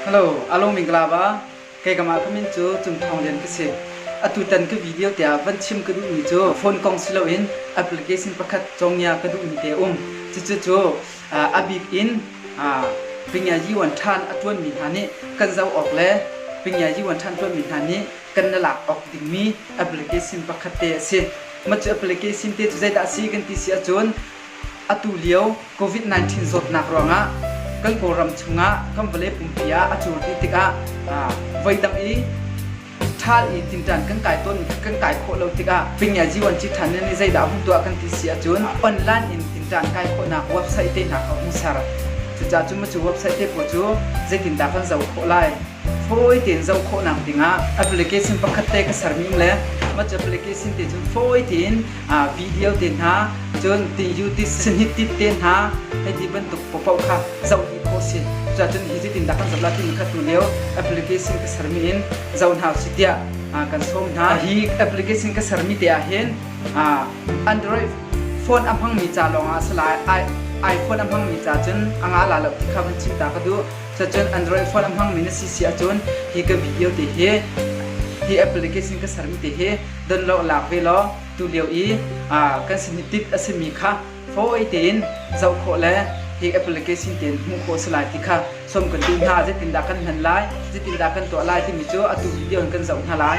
Hello, Along Minglava. Kei kamah ka min cu Cung Thawng Lian ka si. Atutan ka video te ah van chim ka duhmi cu phone kong si loin application pakhat congia ka duhmi te um. Cucu cu ah, a bik in ah, Pingia Yuan Than a tuanmi hna nih kan zoh awk le Pingia Yuan Than tuanmi hna nih kan na lak awk dingmi application pakhat te a si. Mah cu application te cu zeidah a si kan ti si ahcun Atulio COVID-19 zawtnak ruangah kan Kawlram chungah kan vawlei pumpi ah a cur dih tikah voidang i ṭhal i tinṭan kan kai tawn kan kai khawh lo tikah Pingyai Jiwanci Than nih zeidah a hung tuah kan ti si ahcun online in tinṭan kai khawhnak website tehna kha a hung ser. Cucaah cu website te pawl cu zeitindah kan zoh khawh lai? fawi tein zoh khawhnak dingah application pakhat te ka serning le mah cu application te cun fawi tein video te hna cun tin YouTube sinhit tip te hna hei ti bantuk paoh kha zoh dih khawh si cuacun hi cutin dah kan zap latin khat hnu lio application ka sermi in zoh hna usih tiah kan sawm hna hi application ka sermi te ah hin android phone a hmangmi ca lawngah a si lai iphone a hmangmi ca cun anga la lo ti kha van chimta ka duh Cacun Android phone a hmangmi na si si ahcun hi ka video te hi hi application ka sermi te hi don law lak ve law tu lio i kan sin hi tip a simi kha fawi tein zoh khawh le hi application tein hmuh khawh si lai ti kha sawm kan duh hna zetindah kan hman lai zetindah kan tuah lai timi cu atu video in kan zoh hna lai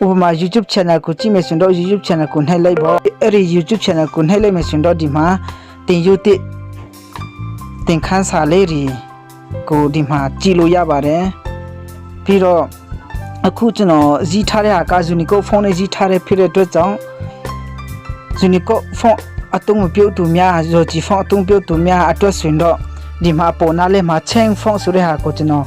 Uma YouTube channel ku chi me sun do YouTube channel ku nai lai bo ri YouTube channel ku nai lai me sun do di ma tin yu ti tin khan sa le ri ku di ma chi lo ya ba re pi ro aku chu no zi tha re ha ka zuni ko phone e zi tha re phi re to chong zuni ko phone atung piu tu mya zo chi phone atung piu tu mya ato sun do di ma po na le ma cheng phone su re ha ko chino